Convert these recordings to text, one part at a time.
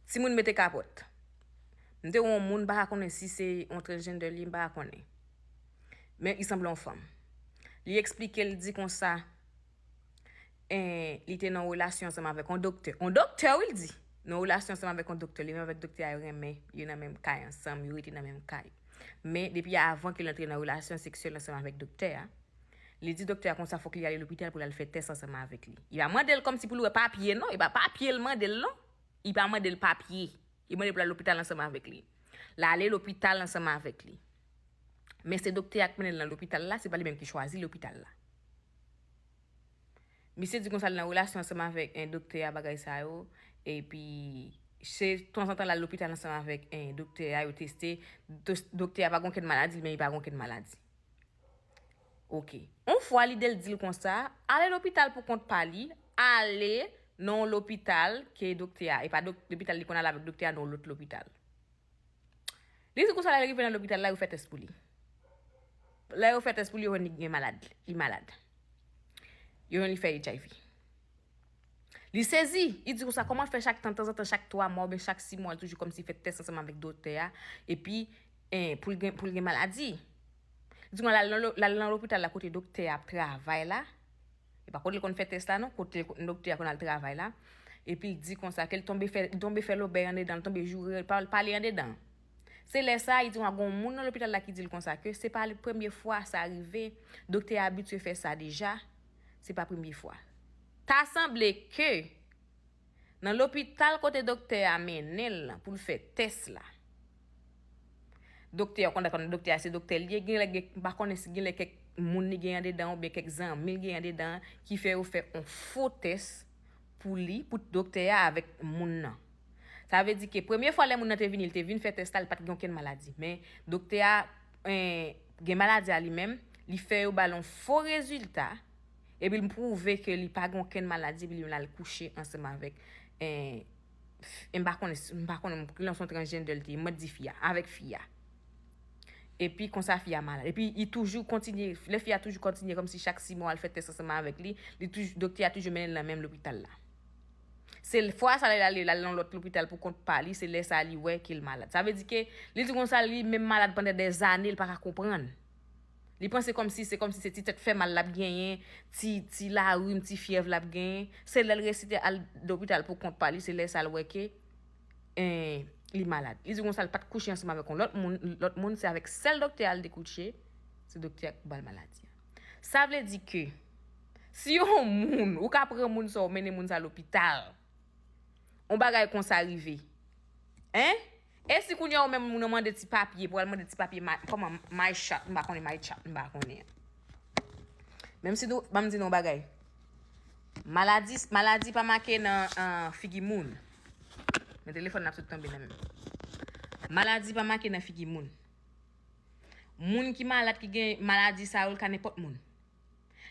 Timoun mete kapòt. M te wè yon moun, m pa ka konnen si se yon transgender li ye, m pa ka konnen. Men li sanble yon fanm. Li eksplike, li di konsa, li te nan yon relasyon ansanm avèk yon doktè. Yon doktè wi li di! Nan yon relasyon ansanm avèk yon doktè. Li menm avèk doktè a yo renmen, yo nan menm kay ansanm, yo rete nan menm kay. Men depi avan ke l antre nan relasyon seksyèl ansanm avèk doktè a, Li di doktè a konsa fòk li ale lopital pou l al fè tès ansanm avèk li. Li pa mande l kòmsi pou l wè papye non, e pa papye l mande l non. Li pa mande l papye. Li mande l pou l al lopital ansanm avèk li. L ale lopital ansanm avèk li. Men se doktè a k mennen l nan lopital la, se pa li menm ki chwazi lopital la. Misye di konsa l nan relasyon ansanm avèk doktè a bagay sa yo, epi se tanzantan l al lopital ansanm avèk doktè a, yo teste, doktè a pa gen okenn maladi, li menm li pa gen okenn maladi. Ok. On fwa lide l di l konsa, ale lopital pou kont pa li, ale nan on lopital ke doktè a, e pa lopital li konn ale avèk doktè a nan on lòt lopital. Li di konsa lè l rive nan lopital la yo fè tès pou li. Lè yo fè tès pou li yo jwenn li gen malad, li malad. Yo jwenn li fè HIV. Li sezi! Li di konsa, kòman fè chak tan, tanzantan, chak twa mwa oubyen chak si mwa l toujou kòmsi fè tès ansanm avèk doktè a, epi pou l gen pou l gen maladi? Li di konsa l al nan l al nan lopital la kote doktè a ap travay la, e pa kote l konn fè tès la non, kote doktè a konn al travay la, epi l di konsa ke l tonbe fè li tonbe fè lobèy andedan, li tonbe joure l, pawòl pale andedan. Se lè sa, li di konsa gon moun nan lopital la ki di l konsa ke se pa li premye fwa sa rive, doktè a abitye fè sa deja, se pa premye fwa. Ta sanble ke nan lopital kote doktè a mennen l lan pou l fè tès la, doktè a, ou konn daprè m doktè a se doktè l ye, gen lè gen, m pa konnen si gen lè kèk moun li gen andedan oubyen kèk zanmi l gen andedan an ki fè yo fè on fo tès pou li, pou doktè a avèk moun nan. Sa vle di ke premye fwa lè moun nan te vini, li te vin fè tès la, li pa t gen okenn maladi. Men, doktè a gen maladi a li menm, li fè yo ba l yon fo rezilta, epi l pwouve ke li pa gen okenn maladi, epi li menm al kouche ansanm avèk, m pa konnen, m pa konnen, gen lè se yon transgender li te ye, mwen di fi a, avèk fi a. Epi konsa fi a malad. Epi li toujou kontinye, lè fi a toujou kontinye kòmsi chak 6 mwa yo al fè tès ansanm avèk li, li toujou, doktè a toujou mennen l nan menm lopital la. Se fwa sa lè l ale, l ale nan lòt lopital pou kont pa li, se lè sa li wè ke l malad. Sa vle di ke li di konsa li menm malad pandan dè zane l pa ka konprann. Li panse kòm si se kòm si se ti tèt fè mal l ap genyen, ti ti larim, ti fyèv l ap genyen. Se lè l resi te al lopital pou kont pa li, se lè sa l wè ke li malad. Li di konsa l pa t kouche ansanm avèk yon lòt moun, lòt moun se avèk sèl doktè a l te kouche, se doktè a ki pou ba l maladi a. Sa vle di ke si yon moun, ou ka pran moun sa ou mennen moun sa lopital, yon bagay konsa rive. Hein? E si kounye a ou menm moun nan mande ti papye pou al mande ti papye ma, kòman, my chat, m pa konnen my chat, m pa konnen. Menm si nou, banm di nou yon bagay. Maladi, maladi pa make nan figi moun. Men telefòn nan ap sot tonbe nan menm. Maladi pa make nan figi moun. Moun ki malad ki gen maladi sa yo li ka nenpòt moun.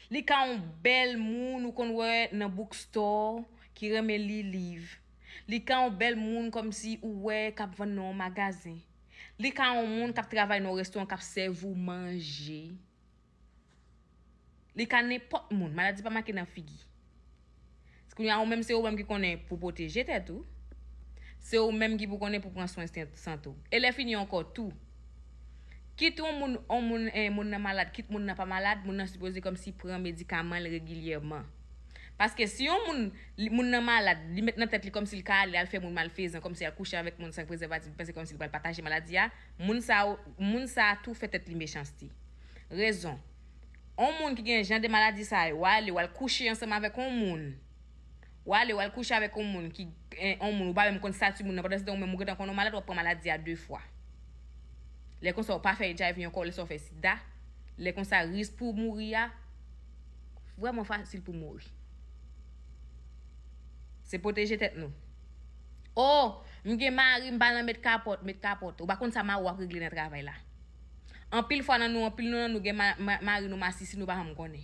Li ka yon bèl moun ou konn wè nan book store ki renmen li liv. Li ka yon bèl moun kòmsi ou wè k ap vann nan yon magazen. Li ka yon moun k ap travay nan yon restoran k ap sèvi w manje. Li ka nenpòt moun. Maladi pa make nan figi. Kounye a ou menm se ou menm ki konnen pou pwoteje tèt ou. Se ou menm ki pou konnen pou pran swen sante ou. E lè fini ankò tou. Kit yon moun, yon moun, eh, moun nan malad, kit moun nan pa malad, moun nan sipoze kòmsi pran medikaman l regilyèman. Paske si yon moun, li, moun nan malad, li met nan tèt li kòmsi l ka ale al fè moun malfezan, kòmsi al kouche avèk moun san prezèvatif, li panse kòmsi li pral pataje maladi a, moun sa yo, moun sa a tou fè tèt li mechanste. Rezon, On moun ki gen jan de maladi sa yo, wa ale, wal kouche ansanm avèk on moun, wa ale, wal kouche avèk on moun ki, on moun ou pa menm konn stati moun nan, pandan se tan ou menm ou gentan konn ou malad wap pran maladi a 2 fwa. Lè konsa ou pa fè HIV ankò, lè sa ou fè sida, lè konsa risk pou ou mouri a vrèman fasil pou mouri. Se pwoteje tèt nou. Oh! M gen mari m pa nan met kapòt, met kapòt. Ou pa konn sa mari w ap regle nan travay la. Anpil fwa nan nou anpil nou nan nou gen mari nou masisi nou pa janm konnen.